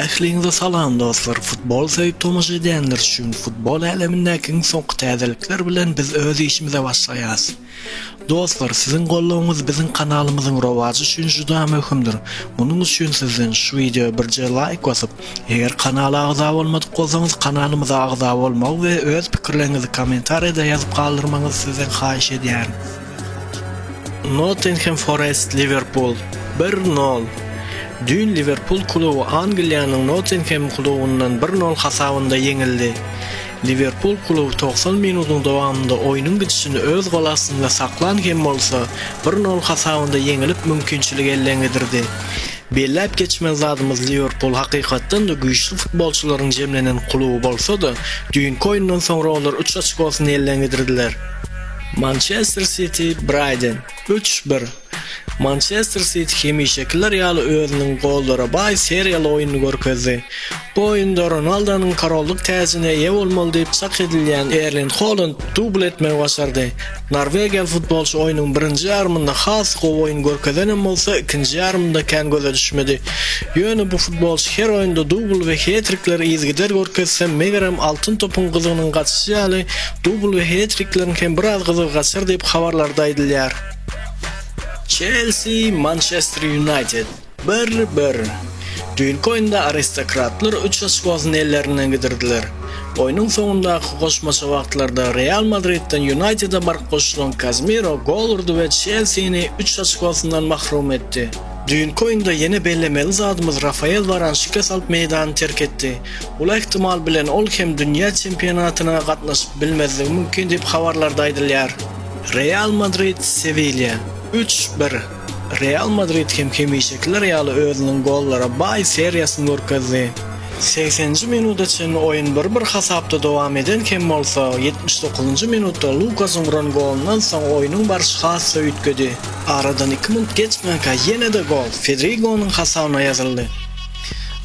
Ähliňize salam dostlar futbol söýüp tomaşa edýänler üçin futbol älemindäki iň soňky täzelikler bilen biz öz işimize başlaýas. Dostlar siziň goldawyňyz biziň kanalymyzyň rowajy üçin juda möhümdir. Munuň üçin sizden şu wideo birje laýk basyp, eger kanala agza bolmadyk bolsaňyz kanalymyza agza bolmagy we öz pikirleriňizi kommentariýada ýazyp galdyrmagyňyzy sizden haýyş edýärin. Nottingham Forest, Liwerpul, bir nol. Düýn Liwerpul kluby Angliýanyň Nottingham klubundan bir nol hasabynda ýeňildi. Liwerpul kluby togsan minutyň dowamynda oýnuň gidişini öz gol astynda saklan hem bolsa, bir nol hasabynda ýeňilip mümkinçiligi elden gidirdi. Belläp geçmeli zadymyz Liwerpul hakykatdan-da güýçli futbolçylaryň jemlenen kluby bolsa-da, düýnki oýundan soňra olar üç oçkosyny elden gidirdiler. Mançester Siti, Braýden, üç, bir, Mançester Siti hemişekiler ýaly özüniň gollara baý seriýaly oýnuny görkezdi. Bu oýunda Ronaldonyň korollyk täjine eýe bolmaly diýip çak edilýän Erling Holand dubl etmegi başardy. Norwegiýaly futbolçy oýnuň birinji ýarymynda has gowy oýun görkezenem bolsa, ikinji ýarymynda kän göze düşmedi. Ýöne bu futbolçy her oýunda dubl we hetrikleri yzygider görkezse, megerem Altyn topyň gyzygynyň gaçyşy ýaly, Dubl we het-trikleriň hem biraz gyzygy gaçar diýip, habarlarda aýdylýar. Çelsi, Mançester Ýunaýted, bir-bir. Düýnki oýunda aristokratlar üç oçkosyny ellerinden gidirdiler. Oýnuň soňundaky goşmaça wagtlarda Real Madridden Ýunaýtede baryp goşulan Kazemiro gol urdy we Çelsini üç oçkosyndan mahrum etdi. Düýnki oýunda ýene bellemeli zadymyz Rafael Waran şikes alyp meýdany terk etdi. Bul ähtimal bilen ol hem dünýä çempionatyna gatnaşyp bilmezligi mümkin diýip habarlarda aýdylýar. Real Madrid, Sewilýa, üç, bir, Real Madrid hem hemişekiler ýaly özüniň gollara baý seriýasyny görkezdi. Segsenji minuda çenli oýun bir-bir hasapda dowam eden hem bolsa, ýetmiş dokuzynjy minutda Lukasyň uran golundan soň oýnuň barşy has-da üýtgedi. Aradan iki minut geçmänkä ýene-de gol Fedrigonyň hasabyna ýazyldy.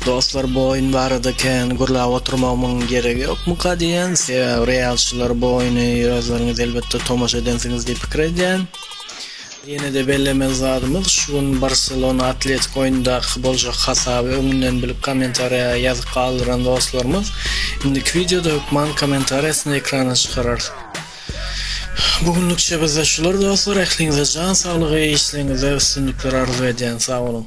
Dostlar bu oýun barada kän gürläp oturmagymyň geregi ýokmuka diýýän, sebäbi realçylar bu oýuny özleriňiz elbetde tomaşa edensiňiz diýip pikir edýän. Ýene-de bellemeli zadymyz, şu gün Barselona Atletiko oýundaky boljak hasaby öňünden bilip kommentariýa ýazyp galdyran dostlarymyz indiki wideoda hökman kommentariýasyny ekrana çykararys. Bu günlükçe bizde şular dostlar, ähliňize jan saglygy, işleriňizde üstünlikler arzuw edýän, sag boluň!